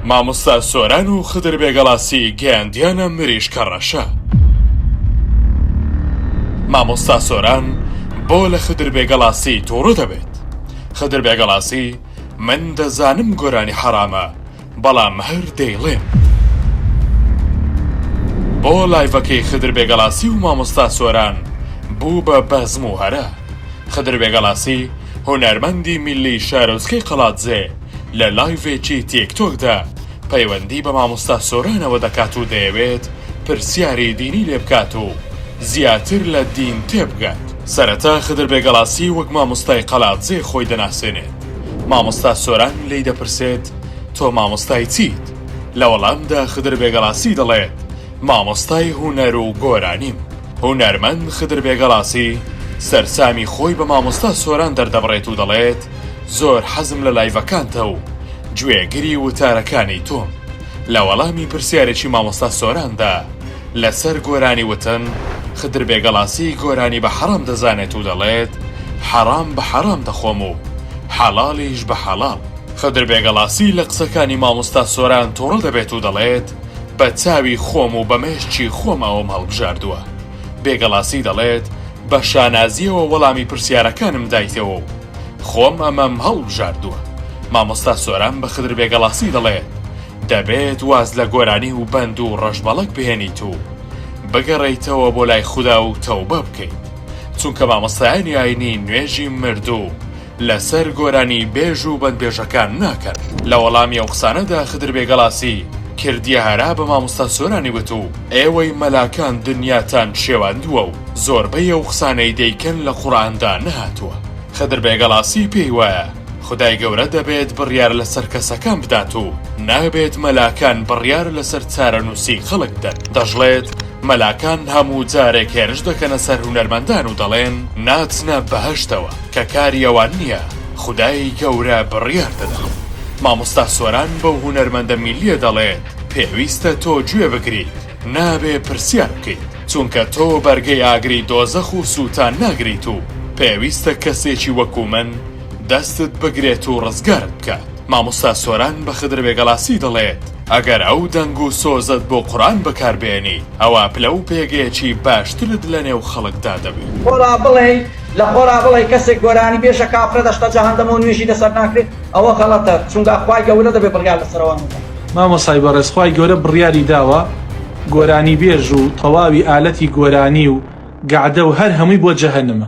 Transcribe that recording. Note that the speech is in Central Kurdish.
مامۆستا سۆران و خدر بێگەڵاسی گەیاندیانە مریشکە ڕەشە. مامۆستا سۆران بۆ لە خدر بێگەڵاسی توڕە دەبێت؟ خدر بێگەڵاسی، من دەزانم گۆرانی حەڕامە، بەڵام هەر دەیڵێم. بۆ لایڤەکەی خدر بێگەڵاسی و مامۆستا سۆران بوو بە بەزم و هەرا؟ خدر بێگەڵاسی، هونەرمەندی میللی شارۆچکەی قەڵادزێ لە لایڤێکی تیک تۆکدا پەیوەندی بە مامۆستا سۆرانەوە دەکات و دەیەوێت پرسیاری دینی لێ بکات و زیاتر لە دین تێبگات. سەرەتا خدر بێگەڵاسی وەک مامۆستای قەڵادزێ خۆی دەناسێنێت، مامۆستا سۆران لێی دەپرسێت تۆ مامۆستای چیت؟ لە وەڵامدا خدر بێگەڵاسی دەڵێت، مامۆستای هونەر و گۆرانیم. هونەرمەند خدر بێگەڵاسی سەرسامی خۆی بە مامۆستا سۆران دەردەبڕێت و دەڵێت، زۆر حەزم لە لایڤەکانتە و گوێگری وتارەکانی تۆم. لە وەڵامی پرسیارێکی مامۆستا سۆراندا لەسەر گۆرانی وتن، خدر بێگەڵاسی گۆرانی بە حەڕام دەزانێت و دەڵێت، حەڕام بە حەڕام دەخۆم و حەڵاڵیش بە حەڵاڵ. خدر بێگەڵاسی لە قسەکانی مامۆستا سۆران توڕە دەبێت و دەڵێت، بە چاوی خۆم و بە مێشکی خۆم ئەوەم هەڵبژاردووە. بێگەڵاسی دەڵێت، بە شانازییەوە وەڵامی پرسیارەکانم دایتەوە و خۆم ئەمەم هەڵبژاردووە. مامۆستا سۆران بە خدر بێگەڵاسی دەڵێت، دەبێت واز لە گۆرانی و بەند و ڕەشبەڵەک بهێنیت و بگەڕێیتەوە بۆ لای خودا و تەوبە بکەیت. چونکە مامۆستایانی ئاینی نوێژی مردوو لەسەر گۆرانی بێژ و بەندبێژەکان ناکەن. لە وەڵامی ئەو قسانەدا خدر بێگەڵاسی کردیە هەرا بە مامۆستا سۆرانی وت و ئێوەی مەلاکان دنیاتان شێواندووە و زۆربەی ئەو قسانەی دەیکەن لە قوڕئاندا نەهاتووە. خدر بێگەڵاسی پێی وایە خودای گەورە دەبێت بڕیار لەسەر کەسەکان بدات و نابێت مەلاکان بڕیار لەسەر چارەنووسی خەڵک بدەن. دەشڵێت مەلاکان هەموو جارێک هێرش دەکەنە سەر هونەرمەندان و دەڵێن ناچنە بەهەشتەوە. کە کاری ئەوان نیە خودای گەورە بڕیار دەدات مامۆستا سۆران بەو هونەرمەندە میلیە دەڵێت پێویستە تۆ گوێ بگریت نابێ پرسیار بکەیت چونکە تۆ بەرگەی ئاگری دۆزەخ و سوتان ناگریت و پێویستە کەسێکی وەکو من دەستت بگرێت و ڕزگارت بکات مامۆستا سۆران بە خدر بێگەڵاسی دەڵێت ئەگەر ئەو دەنگ و سۆزەت بۆ قورئان بەکار بێنی ئەوا پلە و پێگەیەکی باشترت لە نێو خەڵکدا دەبی. خۆ با بڵێین لەخۆرا بڵێی کەسێک گۆرانی بێژە کافرە دەشتە جەهەندەمەو نوێژی لەسەر ناکرێت ئەوە غەڵەتە چونگا خوای گە ورە دەبێ بڕیار لەسەر ئەوان بدا. مامۆسای بەڕێز خوای گەورە بڕیاری داوە گۆرانی بێژ و تەواوی ئالەتی گۆرانی و گەعدە و هەر هەمووی بۆ جەهەنمە.